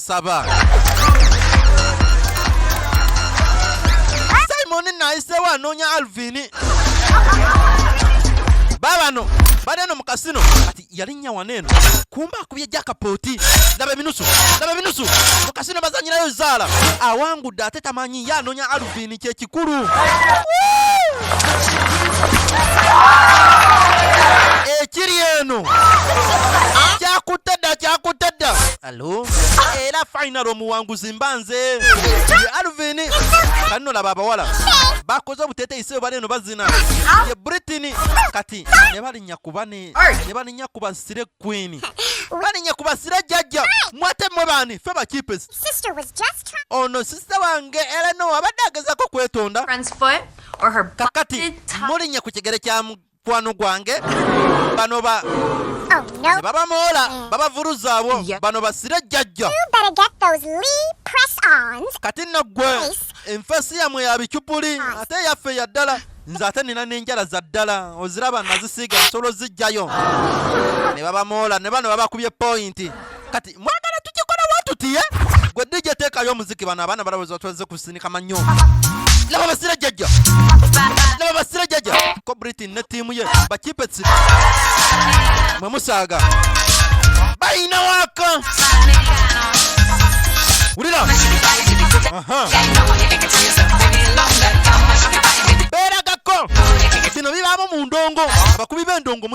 saba simoni nayisewo anoonya alvini babano bali eno mu kasino kati yalinnya wano eno kumba akubye jakapooti laba ebinusu laba ebinusu mu kasino bazanyirayo zaala awangudde ate tamanyi ye anoonya alvini kyekikulu ekiri eno kyakutte dda kyakutte dda final era final omuwanguzi mbanze alvin kanno laba abawala bakoze obuteteyi sebo bali eno bazina ye britain kati ne balinya kuba ne balinya kuba sire queen balinya kuba sire jajja mwate mwe bani fe bakipes ono sister wange era no abadde agezako kwetonda kakati mulinya ku kigere kya mukwano gwange bano ba oh, ne babamoola eh. babavuruzaabwo bano basire jjajja kati nno ggwe enfeesi yamwe ya bicupuli ate yaffe ya ddala nze ate nina n'enjala za ddala oziraba nazisiiga nsolo zijjayo ne babamoola ne bano babakubye pointi kati mwagala tukikola watuti eh? gwe dj teekayo omuziki bano abaana balowooza tweze kusinika manyo laba basira jajja laba basira jajja ko britain ne tiimu ye bakipetsi mwe musaaga bayina waka wulira beeragako bino bibaamu mu ndongo abakubi b'endongo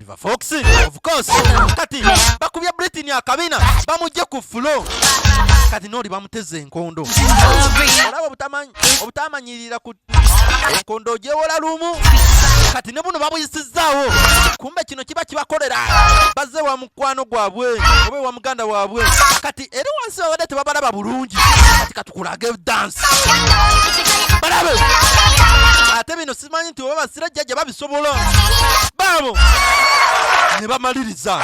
Diva Fox of course kati bakubya Britney akabina bamujje ku flow kati noli bamuteze enkondo olaba obutamanyi obutamanyirira ku enkondo ojewola lumu kati ne buno babuyisizaawo kumbe kino kiba kibakolera bazze wa mukwano gwabwe oba ewa muganda waabwe kati eri wansi babadde tebabalaba bulungi kati katukulage dansi balabe ate bino simanyi nti oba basira jjajja babisobola baabo ne bamaliriza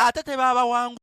ate tebabawangu